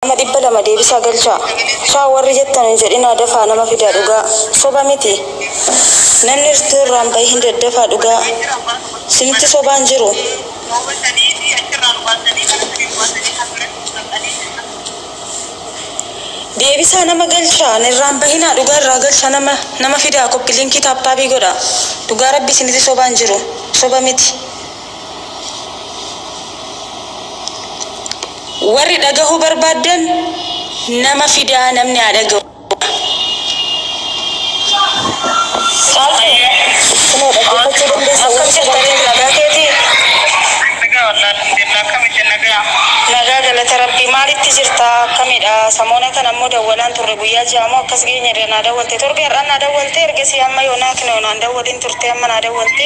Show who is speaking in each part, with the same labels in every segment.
Speaker 1: Nama dhibba lama deebisaa galchaa. Shaa warri jettan hin jedhinaa dafaa nama fidaa dhugaa soba miti namni irtuu irraa hin bahiin daddafaa dhugaa simti sobaa hin jiru. Deebisaa nama galchaa nirraa hin bahinaa dhugaa irraa galchaa nama nama fidaa koppi linkii taaptaabii godhaa dhugaa rabbi simiti sobaa hin jiru soba miti. Warri dhagahuu barbaaddan nama fidaa namni haa dhagahu. Caaltuu, kunoo dhaggeeffachuu dandeessa Akkam warri jirta Reem nagaa keetii? Nagaa wallah alhamdulillah akkami isin nagaa? Nagaa galata rabbii maalitti jirta akkamidha samoona kana immoo dawwalaan turre guyyaa ja'a moo akkas geenye irra naa dawwalte torbe har'aan naa dawwalte ergasii amma yoonaa kinoo naan dawwalin turte amma naa dawwalte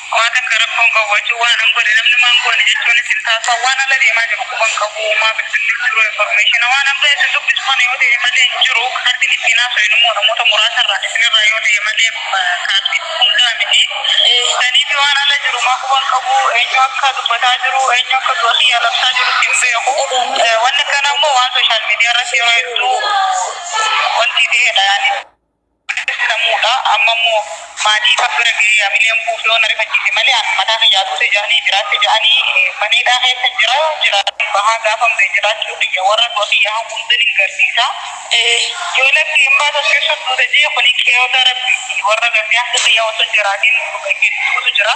Speaker 1: Homaa takka rakkoo hin qabu achii waan an godhe namni maan goone jechuunis hin taasisa waan ala deemaa jiru quba hin qabu homaa bilbilli hin jiru information waan an baheef sin dubbisu kana yoo ta'e malee hin jiru kaardiin ittiin haasofnu immoo namoota muraasa irraa isin irraa yoo ta'e malee kaardii hundaa miti saniif waan ala jiru maa quba hin qabu eenyu akka dubbataa jiru eenyu akka du'a kiyyaa labsaa jiru hin beeku wanni akkana immoo waan sooshaal miidiyaa irratti yeroo hedduu wantii ta'eedha yaani. seenamudha amma immoo maatii isaa bira ga'ee hamileen kuufee yoo na rifachiise malee an mataa kiyyaa duute jedhanii jiraatte jedhanii mana hidhaa keessa jira jiraadheen bahaa gaafan ba'e jiraachuu kiyya warra du'a kiyya hawwuutten hin garsiisa yoo lakki hin baatu as keessan duuta jee kuni qeeyoota rabbiiti warra gartee akka kiyyaa osoo hin jiraatiin du'e hedduutu jira.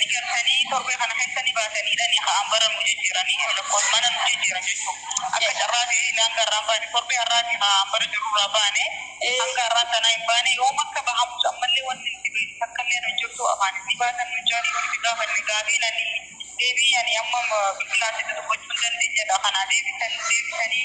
Speaker 1: ni cabsanii torbee kana keessa ni baasaniidha ni ka'an bara nu jijjiiranii lakkoofsa mana nu jijjiiran jechuudha akka carraa ta'ee hanga har'aa hin baane torbee har'aatii haa bara jiru irraa baane hanga har'aa sanaa hin baane yoom akka bahamus ammallee wanti nuti beeknu takkallee nu hin jirtu afaanis ni baasan nu jaanii yoo nuti gaafanne gaafiin ani deebii ani amma biqilaatti dudubbachuu hin dandeenyedha kanaa deebisan deebisanii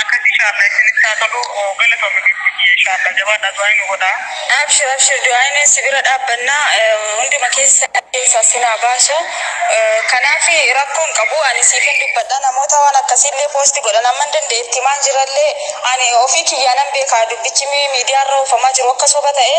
Speaker 1: Akkasi inshallah isinitti haa tolu galatomi gifti kiyya inshallah jabaadhaa du'aa'ii nu godhaa. Abshir abshir
Speaker 2: du'aayineen si bira dhaabbanna hunduma keessa keessaa sin haa baasu kanaafi rakkoo hin qabu ani siifin dubbadha namoota waan akkasii illee post godhan amman danda'e itti himaan jira illee ani ofii kiyyaa nan beeka dubbichi miidiyaa irra oofamaa jiru akka soba ta'e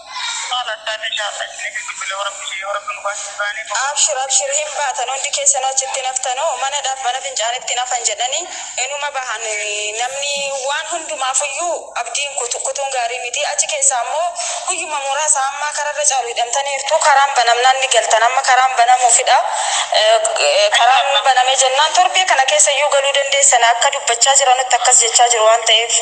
Speaker 2: Abshir abshir hin baatan hundi keessanu achitti hin haftanu manadhaf mana fincaanitti hin hafan jedhani inuma bahan namni waan hundumaafuyyuu abdiin kutu kutuun gaarii miti achi keessaa immoo guyyuma muraasa ammaa kararra caalu hidhamtaniirtu karaan banamnaan ni galtan amma karaan banamuufidha karaan banamee jennaan torbee kana keessayyuu galuu dandeessan akka dubbachaa jiranutti akkas jechaa jiru waan ta'eef